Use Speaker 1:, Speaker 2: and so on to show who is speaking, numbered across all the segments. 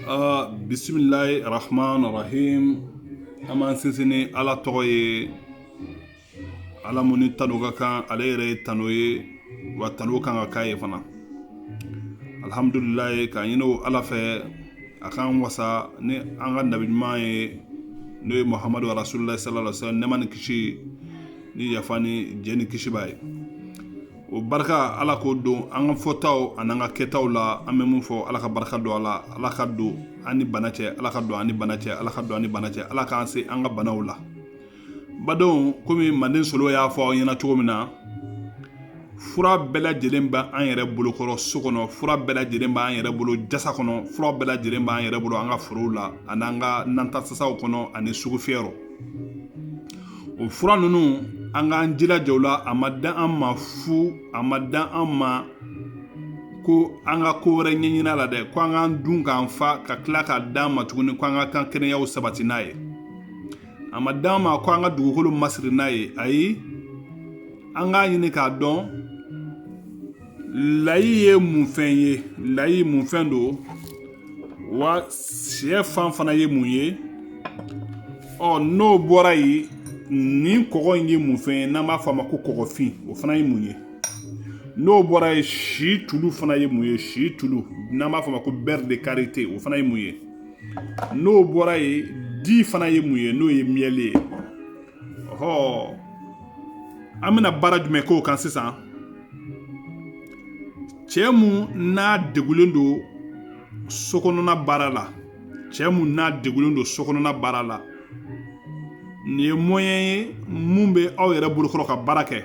Speaker 1: Uh, bisimilayi rahman rahim an b'an sinsin ni ala tɔgɔ ye ala mun ni tanu ka kan ale yɛrɛ ye tanu ye wa tanu kan ka k'a ye fana alihamudulilayi k'a ɲini o ala fɛ a k'an wasa ni an ka nabi ɲuman ye n'o ye muhamadu rasululayi sallallahu alaihi wa sallam nɛɛma ni kisi ni yafa ni jɛ ni kisi b'a ye o barika ala k'o don an ka fɔtaw ani an ka kɛtaw la an bɛ mun fɔ ala ka barika don a la ala ka don an ni bana cɛ ala ka don an ni bana cɛ ala ka don an ni bana cɛ ala k'an se an ka banaw la badenw komi manden solo y'a fɔ aw ɲɛna cogo min na fura bɛɛ lajɛlen bɛ an yɛrɛ bolokɔrɔ so kɔnɔ fura bɛɛ lajɛlen b'an yɛrɛ bolo jasa kɔnɔ fura bɛɛ lajɛlen b'an yɛrɛ bolo an ka forow la ani an ka nantasasaw kɔnɔ ani sugufiyɛ rɔ o fura ninnu an k'an jilaja o la a ma dan an ma fu a ma dan an ma ko an ka ko wɛrɛ ɲɛɲini a la dɛ ko an k'an dun k'an fa ka tila k'a d'an ma tuguni ko an ka kan kɛnɛyaw sabati n'a ye a ma d'an ma ko an ka dugukolo masiri n'a ye ayi an k'a ɲini k'a dɔn layi ye mun fɛn ye layi mun fɛn don wa syɛfan fana ye mun ye ɔ n'o bɔra yen nin kɔgɔ in ye mun fɛn ye n'an b'a fɔ a ma ko kɔgɔfin o fana ye mun ye n'o bɔra yen situlu fana ye mun ye situlu n'an b'a fɔ a ma ko beurre de karité o fana ye mun ye n'o bɔra yen di fana ye mun ye n'o ye miel ye ɔhɔ an bɛna baara jumɛn k'o kan sisan cɛ mun n'a degulen don sokɔnɔna baara la cɛ mun n'a degulen don sokɔnɔna baara la nin ye moyen ye mun bɛ aw yɛrɛ bolokɔrɔ ka baara kɛ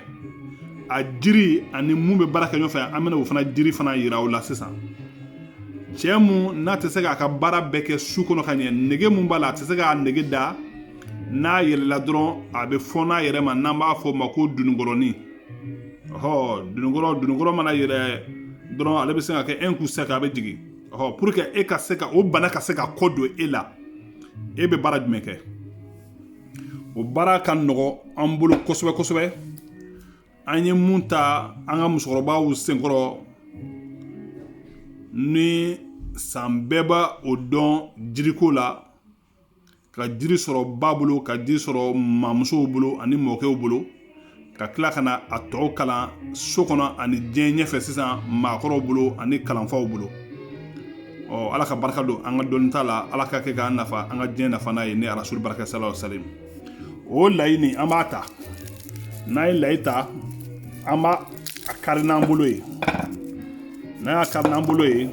Speaker 1: a jiri ani mun bɛ baara kɛ ɲɔgɔnfɛ an bɛna o fana jiri fana yira aw la sisan cɛ mun n'a tɛ se k'a ka baara bɛɛ kɛ su kɔnɔ ka ɲɛ nege mun b'a la a tɛ se k'a nege da n'a yɛlɛla dɔrɔn a bɛ fɔɔn'a yɛrɛ ma n'an b'a fɔ o ma ko dununkɔrɔnin ɔhɔ dununkɔrɔ dununkɔrɔ mana yɛlɛ dɔrɔn ale bɛ se ka kɛ un coup sec a bɛ jigin ɔhɔ pour que e ka se ka o bana ka se ka kɔ don e la e bɛ baara jumɛn kɛ o baara ka nɔgɔ an bolo kosɛbɛ kosɛbɛ an ye mun ta an ka musokɔrɔbaw senkɔrɔ ni san bɛɛ b'a o dɔn jiriko la ka jiri sɔrɔ ba bolo ka jiri sɔrɔ mamusow bolo ani mɔkɛw bolo ka tila ka na a tɔw kalan so kɔnɔ ani diɲɛ ɲɛfɛ sisan maakɔrɔw bolo ani kalanfaw bolo ɔ ala ka barika don an ka dɔnni ta la ala ka kɛ k'an nafa an ka diɲɛ nafa n'a ye ni arasulu barika sa salam o layi nin an b'a ta n'an ye layi ta an b'a kari n'an bolo ye n'an y'a kari n'an bolo ye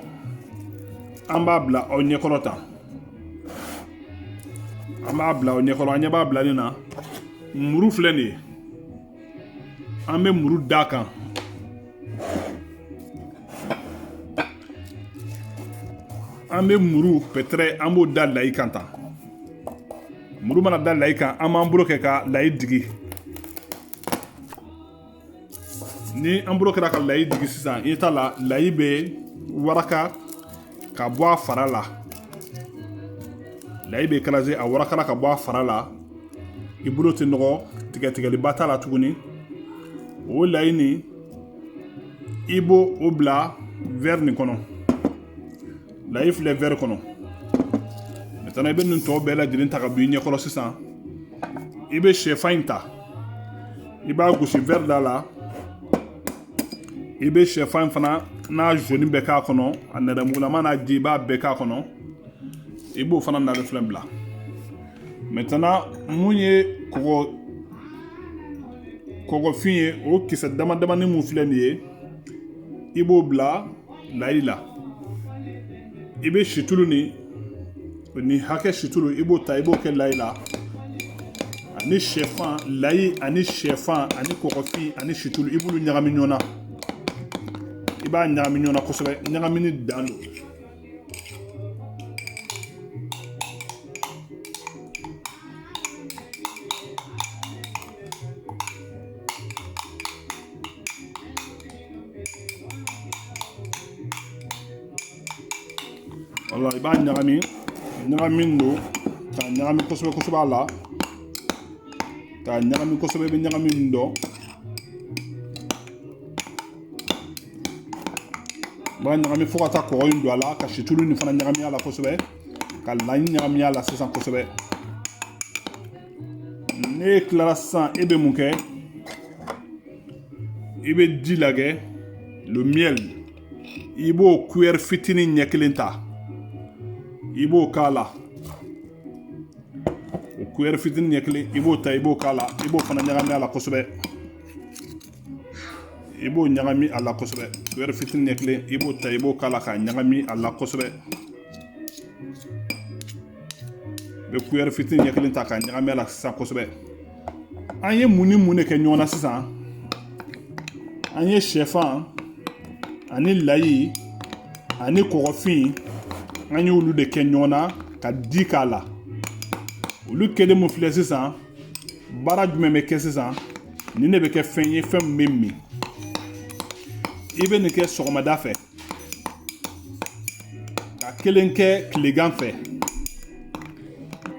Speaker 1: an b'a bila aw ɲɛkɔrɔ tan an b'a bila aw ɲɛkɔrɔ an ɲɛ b'a bila nin na muru filɛ nin ye an bɛ muru d'a kan an bɛ muru pɛtɛrɛ an b'o da layi kan tan muru mana da layi kan an b'an bolo kɛ ka layi digi ni an bolo kɛra ka layi digi sisan i t'a la layi bɛ waraka ka bɔ a fara la layi bɛ écraser a warakala ka bɔ a fara la i bolo tɛ nɔgɔ tigɛtigɛliba t'a la tuguni o layi nin i b'o bila wɛri nin kɔnɔ layi filɛ wɛri kɔnɔ maintenant i bɛ nin tɔ bɛɛ lajɛlen ta ka bɔ i ɲɛkɔrɔ sisan i bɛ sɛfan in ta i b'a gosi wɛri da la i bɛ sɛfan fana n'a jaune bɛɛ k'a kɔnɔ a nɛrɛmugulama n'a ji i b'a bɛɛ k'a kɔnɔ i b'o fana nare filɛ bila maintenant mun ye kɔgɔfin ye o kisɛ dama damani mun filɛ nin ye i b'o bila layi la i bɛ situlu nin nin hakɛ situlu i b'o ta i b'o kɛ layi la ani sɛfan layi ani sɛfan ani kɔgɔfin ani situlu i b'olu ɲagami ɲɔgɔn na i b'a ɲagami ɲɔgɔn na kosɛbɛ ɲagamini dan don wala i b'a ɲagami ɲagami don k'a ɲagami kosɛbɛ kosɛbɛ a la k'a ɲagami kosɛbɛ i bɛ ɲagami min dɔn i b'a ɲagami fo ka taa kɔgɔ in don a la ka situlu nin fana ɲagami a la kosɛbɛ ka layi ɲagami a la sisan kosɛbɛ n'e tilara sisan e bɛ mun kɛ i bɛ di lagɛ le miel i b'o kuyɛri fitinin ɲɛ kelen ta i b'o k'a la o kuyɛri fitinin ɲɛ kelen i b'o ta i b'o k'a la i b'o fana ɲagami a la kosɛbɛ i b'o ɲagami a la kosɛbɛ kuyɛri fitinin ɲɛ kelen i b'o ta i b'o k'a la k'a ɲagami a la kosɛbɛ i bɛ kuyɛri fitinin ɲɛ kelen ta k'a ɲagami a la sisan kosɛbɛ an ye mun ni mun de kɛ ɲɔgɔn na sisan an ye sɛfan ani layi ani kɔgɔfin an y'olu de kɛ ɲɔgɔn na ka di k'a la olu kɛlen mun filɛ sisan baara jumɛn bɛ kɛ sisan nin de bɛ kɛ fɛn ye fɛn min bɛ min i bɛ nin kɛ sɔgɔmada fɛ ka kelen kɛ tilegan fɛ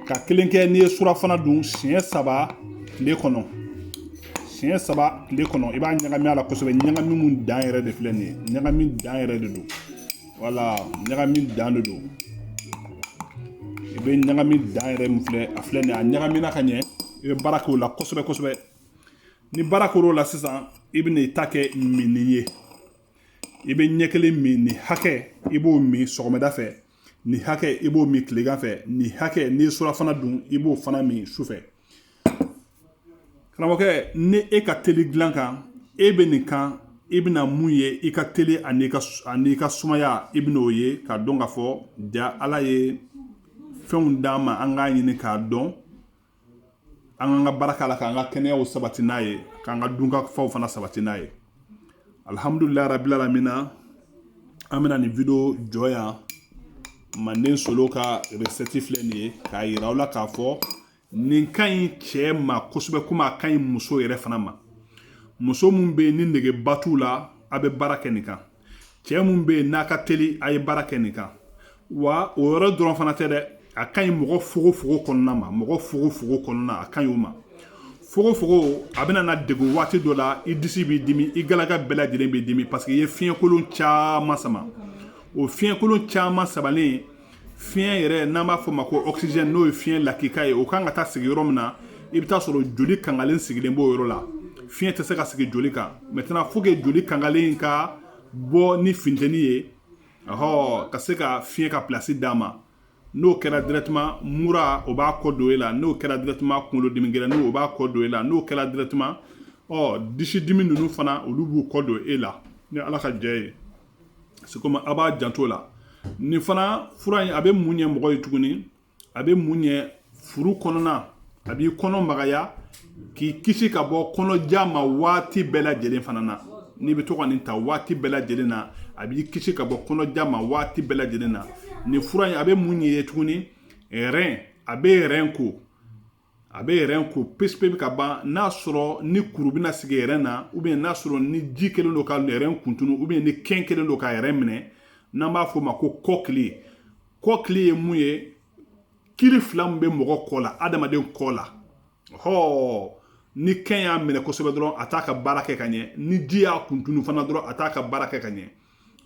Speaker 1: ka kelen kɛ n'i ye surafana dun siɲɛ saba tile kɔnɔ siɲɛ saba tile kɔnɔ i b'a ɲagami a la kosɛbɛ ɲagami mun dan yɛrɛ de filɛ nin ye ɲagami dan yɛrɛ de don wala ɲagami dan de don i bɛ ɲagami dan yɛrɛ min filɛ a filɛ nin ye a ɲagamina ka ɲɛ i bɛ baara k'o la kosɛbɛ kosɛbɛ ni baara kɛr'o la sisan i bɛ n'i ta kɛ minni ye i bɛ ɲɛ kelen min nin hakɛ i b'o min sɔgɔmada fɛ nin hakɛ i b'o min tilegan fɛ nin hakɛ n'i ye surafana dun i b'o fana min sufɛ karamɔgɔkɛ ni e ka teli dilan kan e bɛ nin kan i bɛna mun ye i ka teli ani i ka sumaya i bɛna o ye k'a dɔn k'a fɔ ja ala ye fɛnw d'an ma an k'a ɲini k'a dɔn an k'an ka baara k'a la k'an ka kɛnɛyaw sabati n'a ye k'an ka dunkafaw fana sabati n'a ye alihamudulilayi rabili alamina an bɛna nin video jɔ yan manden solo ka resɛti filɛ nin ye k'a yira aw la k'a fɔ nin ka ɲi cɛ ma kosɛbɛ komi a ka ɲi muso yɛrɛ fana ma muso min bɛ yen ni negeba t'u la a bɛ baara kɛ nin kan cɛ min bɛ yen n'a ka teli a ye baara kɛ nin kan wa o yɔrɔ dɔrɔn fana tɛ dɛ a ka ɲi mɔgɔ fogofogo kɔnɔna ma mɔgɔ fogofogo kɔnɔna a ka ɲi o ma fogofogo a bɛna na degun waati dɔ la i disi b'i dimi i galaka bɛɛ lajɛlen b'i dimi parce que i ye fiɲɛkolon caman sama o fiɲɛkolon caman samalen fiɲɛ yɛrɛ n'an b'a fɔ ma ko oxygène n'o ye fiɲɛ lakika ye o kan ka taa sigi yɔrɔ min na i bɛ taa sɔrɔ joli kangalen sigilen b'o yɔrɔ la fiɲɛ tɛ se ka sigi joli kan maintenant faut que joli kangalen ka bɔ ni funteni ye Ɔhɔn ka se ka fiɲɛ ka place d'a ma n'o kɛra directement mura o b'a kɔ don e la n'o kɛra directement kunkolodimi gɛlɛnnin o b'a kɔ don e la n'o kɛra directement ɔ disidimi ninnu fana olu b'u kɔ don e la ni Ala ka jɛ ye c'est comme a b'a janto o la nin fana fura in a bɛ mun ɲɛ mɔgɔ ye tuguni a bɛ mun ɲɛ furu kɔnɔna a b'i kɔnɔ magaya k'i kisi ka bɔ kɔnɔja ma waati bɛɛ lajɛlen fana na n'i bɛ to ka nin ta waati bɛɛ lajɛlen na a b'i kisi ka bɔ kɔnɔja ma waati bɛɛ lajɛlen na nin fura in a bɛ mun ɲɛ i ye tuguni rein a bɛ rein ko a bɛ rein ko pewu ka ban n'a sɔrɔ ni kuru bɛna sigi rein na ou bien n'a sɔrɔ ni ji kɛlen don ka rein kuntunu ou bien ni kɛn kɛlen don ka rein minɛ n'an b'a fɔ o ma ko kɔkili kɔkili ye mun ye kili fila min bɛ mɔgɔ kɔ la adamaden kɔ la hɔ ni kɛn y'a minɛ kosɛbɛ dɔrɔn a t'a ka baara kɛ ka ɲɛ ni ji y'a kuntunu fana dɔrɔn a t'a ka baara kɛ ka ɲɛ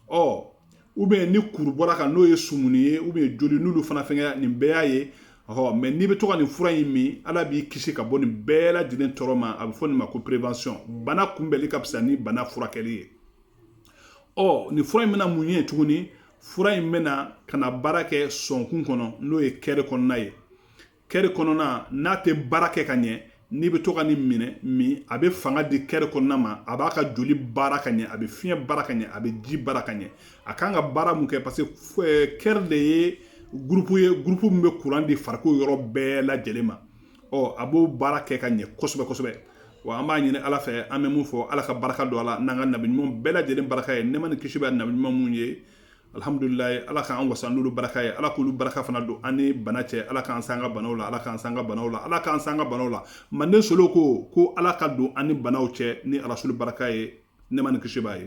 Speaker 1: ɔ ou bien ni kuru bɔra kan n'o ye sumuni ye ou bien joli n'olu fana fɛngɛ nin bɛɛ y'a ye ɔ mais n'i bɛ to ka nin fura in min ala b'i kisi ka bɔ nin bɛɛ lajɛlen tɔɔrɔ ma a bɛ fɔ nin ma ko prévention bana kunbɛnli ka fisa ni bana furakɛli ye ɔ nin fura in bɛna mun ɲɛ tuguni fura in bɛ na ka na baara kɛ sɔnkun kɔnɔ n'o ye kɛri kɔnɔna ye kɛri kɔnɔna n'a tɛ baara kɛ ka ɲɛ n'i bɛ to ka nin min a bɛ fanga di kɛri kɔnɔna ma a b'a ka joli baara ka ɲɛ a bɛ fiɲɛ baara ka ɲɛ a bɛ ji baara ka ɲɛ a kan ka baara mun kɛ parce que eh, kɛri de ye gurupu ye gurupu min bɛ kuran di farikolo yɔrɔ bɛɛ lajɛlen ma ɔ a b'o baara kɛ ka ɲɛ kosɛbɛ kosɛbɛ wa an b'a ɲini ala fɛ an bɛ mun fɔ ala ka baraka don a la n'an ka nabiɲuman bɛɛ lajɛlen baraka ye nɛɛma ni kisi bɛ nabiɲuman mun ye alihamdulilayi ala k'an wasa n'olu baraka ye ala k'olu baraka fana don an ni bana cɛ ala k'an san ka banaw la ala k'an san ka banaw la ala k'an san ka banaw la manden solo ko ko ala ka don an ni banaw cɛ ni arasulu baraka ye nɛɛma ni kisi b'a ye